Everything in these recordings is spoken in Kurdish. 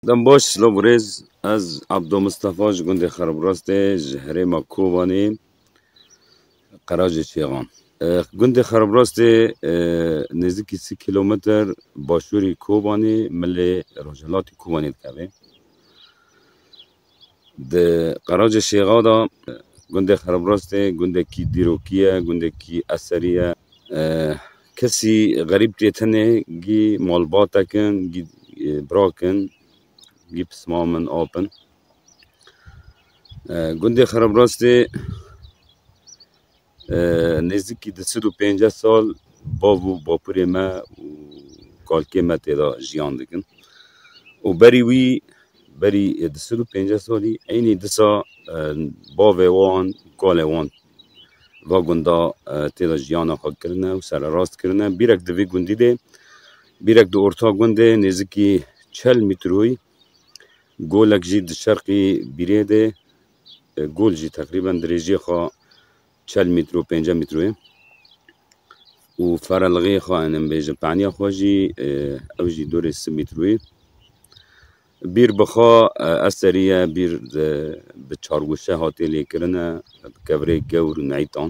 Dem baş silav û rêz ez Abdo Mistefa ji gundê Xerobirastê ji herêma Kovanê Qeracê Şêxan. Gundê Xerobirastê nêzîkî sî kîlometer başûrî Kovanê milê rojhilatî Kovanê dikeve. Di Qeraca Şêxa de gundê Xerabirastê gundekî dîrokî ye, gundekî eserî ye. Kesî xerîb tê tenê gî malbatek in, gî birak in, gî pismam in, ap in. Gundê Xerabirastê Nêzîkî di sid û pênceh sal bav û bapurê me û kalkê me tê de jiyan dikin û berî wî berî di sid û pênceh salî eynî disa bavê wan û kalê wan va gunda tê de jiyana xwe kirine û sererast kirine. Bîrek di vî gundî de bîrek di orta gundê nêzîkî çel mîtroyî golek jî di şerqî bîrê de Gul jî teqrîben dirêjiyê xwe çel mîtr û pênceh mîtr ye û ferelixê xwe em ê bêjin paniya xwe jî ew jî dorê sih mîtr ye. Bîr bi xwe ez serî ye bîr bi çargoşe hatiye lêkirin e bi kevirê gewr û neytan.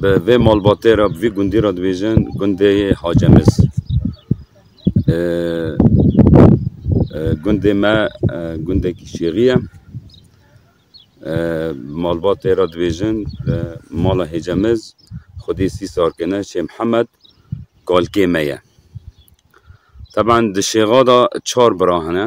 Bi vê malbatê re bi vî gundî re dibêjin gundê yê Hacemiz. Gundê me gundekî şêxî ye. Bi malbatê re dibêjin li mala Hêcemiz xwedî sî sarkine Şê Mihemed kalkê me ye. Teban di şêxa de çar bira hene.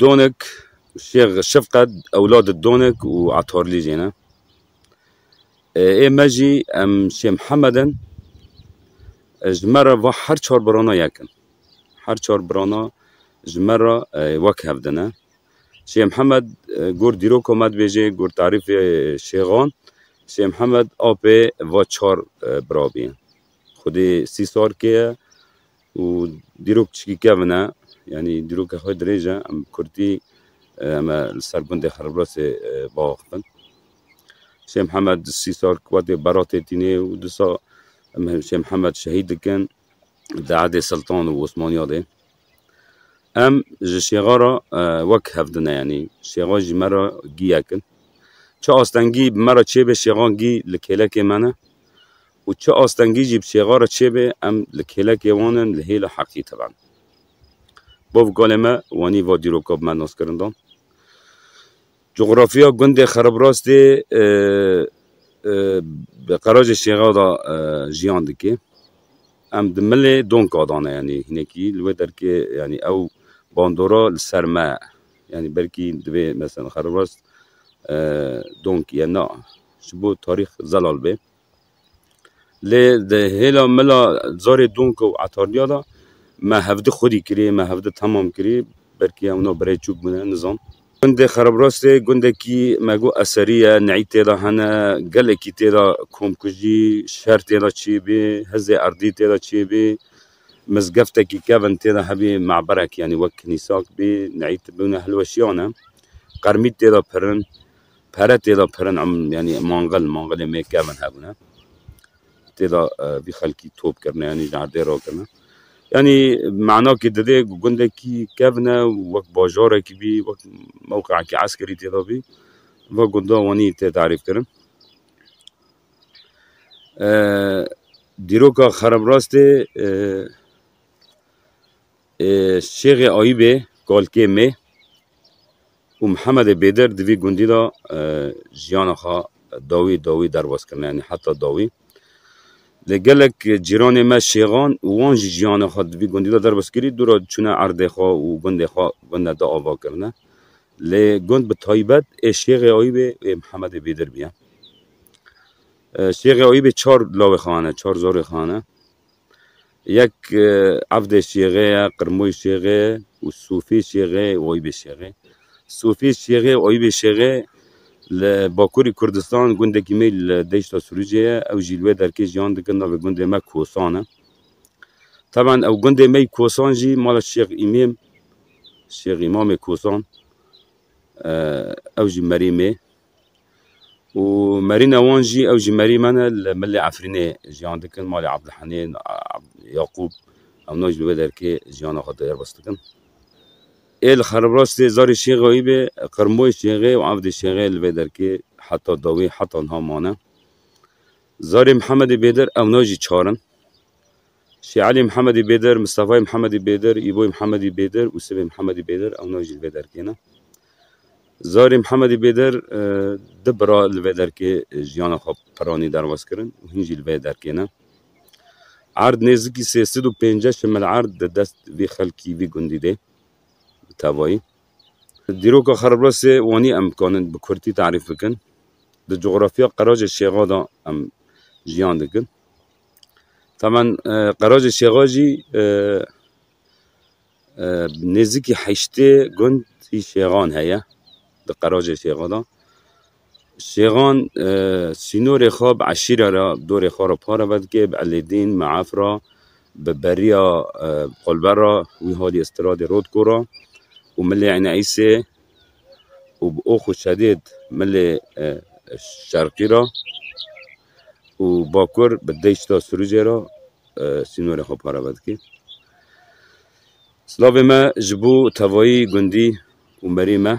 Donik, Şêx Şifqet ewladê Donik û Etorlî jî ne. Ê me jî em Şêx Mihemed in. Ji me re va her çar birana yek in. Her çar birana ji me re wek hev din e. Şêx Mihemed gor dîroka me dibêje, gor tarîfê şêxan, Şêx Mihemed apê va çar birabî ye. Xwedî sî sal kê ye. û dîrok çikî kevin e yanî dîroka xwe dirêj e em bi kurdî em ê li ser gundê Xeriblasê biaxivin. Şêh Mihemed sî sal ki watê beratê tînê û disa em Şêh Mihemed şehîd dikin di edê siltan û Osmaniya dê. Em ji şêxa re wek hevdine yanî şêxa jî me re gîyek in. Çi astengî bi me re çêbê şêxan gî li kêlekê me ne. û çi astengî jî bi çêxa re çêbe em li kêlekê wan in li hêla heqî tevend. Bav galê me wanî va dîroka bi me naskirin dan. Cografiya gundê Xeribrastê bi qerajê çêxa da jiyan dike. Em di milê donka da ne yanî hinekî li wê derkê yanî ew bandora li ser me ye. Yanî belkî divê mesela Xeribrast donkî ye na ji bo tarîx zelal be. Lê di hêla mila zarê donka û etarliya de me hevdu xwedî kirî, me hevdu temam kirî, belkî ewna birey çûk bûne nizam. Gundê Xerabrastê gundekî me got eserî ye, neyî tê de hene, gelekî tê de komkujî, şer tê de çêbê, hizê erdî tê de çêbê, mizgeftekî kevin tê de hebê, me'berek yanî wek kinîsak bê, neyî tibûne hilweşiyan e, qermît tê de pirin, Pere tê de pirin em yanî mangil mangilê me kevin hebûne. Tê de vî xelkî top kirine yanî ji erdê re kirine. Yanî manakê didê ku gundekî kevine wek bajarekî bî wek mewqeekî eskerî tê de bî ve gunda wanî tê tarîf kirin. Dîroka xerebrastê Şêxê Ayîbê kalkê me Û Mihemedê Bêdir di vî gundî de jiyana xwe dawî dawî derbas kirine yanî heta dawî. Lê gelek cîranê me şêxan û wan jî jiyana xwe di vî gundî de derbas kirî dû re çûne erdê xwe û gundê xwe gunda di ava kirine. Lê gund bi taybet ê Şêxê Ayûbê û ê Mihemedê Bêdir bûye. Şêxê Ayûbê çar lawê xwe hene, çar zorê xwe hene. Yek evdê şêxê ye, qirmoyî şêxê ye û sofê şêxê û oyîbê şêxê. Sofê şêxê û oyîbê şêxê li bakurî Kurdistan gundekî me li deşta Sûrûcê ye. Ew jî li wê derkê jiyan dikin navê gundê me Kosan e. Taban ew gundê me yî Kosan jî mala Şêx Îmêm, Şêx Îmamê Kosan ew jî merê me ye. û merîna wan jî ew ji merî me ne li Milê Efrînê jiyan dikin malê Abdulhenî Yaqûb hemû ji vê derkê jiyana xwe derbas dikin. Ê li Xeribras dê zarê şêxeyî bê qirmoyê şêxê û evdê şêxê li vê derkê heta dawî heta niha mane. Zarê Mihemedê Bêdir ewna jî çar in. Şêalî Mihemedî Bêdir, Mistefayî Mihemedî Bêdir, Îboyî Mihemedî Bêdir û Sivê Mihemedî Bêdir ew navê jî li vê derkê ne. Zarê Mihemedî Bêdir du bira li vê derkê jiyana xwe piranî derbas kirin û hîn jî li vê derkê ne. Erd nêzikî sê sed û pênceh şimil erd di dest vî xelkî vî gundî dê bi tevayî. Dîroka Xerablasê wanî em dikarin bi kurtî tarîf bikin. Di cografya qerac ê Şêxa de em jiyan dikin. Tamen qeraja Şêxa jî nêzîkî heştê gund hî Şêxan heye di qeraja Şêxa de. Şêxan sînorê xwe bi eşîre re dorê xwe re parve dike bi Elêdîn, Meaf re, bi beriya Xolber re wî halî îstiradê Rodko re û milê Eyn Eysê û bi ox û şedêd milê Şerqî re. û bakur bi deşta Sirûcê re sînorê xwe parve dike. Silavê me ji bo tevayî gundî û merê me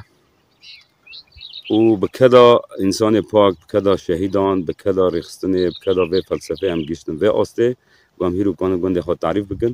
û bi keda însanê pak, bi keda şehîdan, bi keda rêxistinê, bi keda vê felsefeyê em gihiştin vê astê ku em hîr û panê gundê xwe tarîf bikin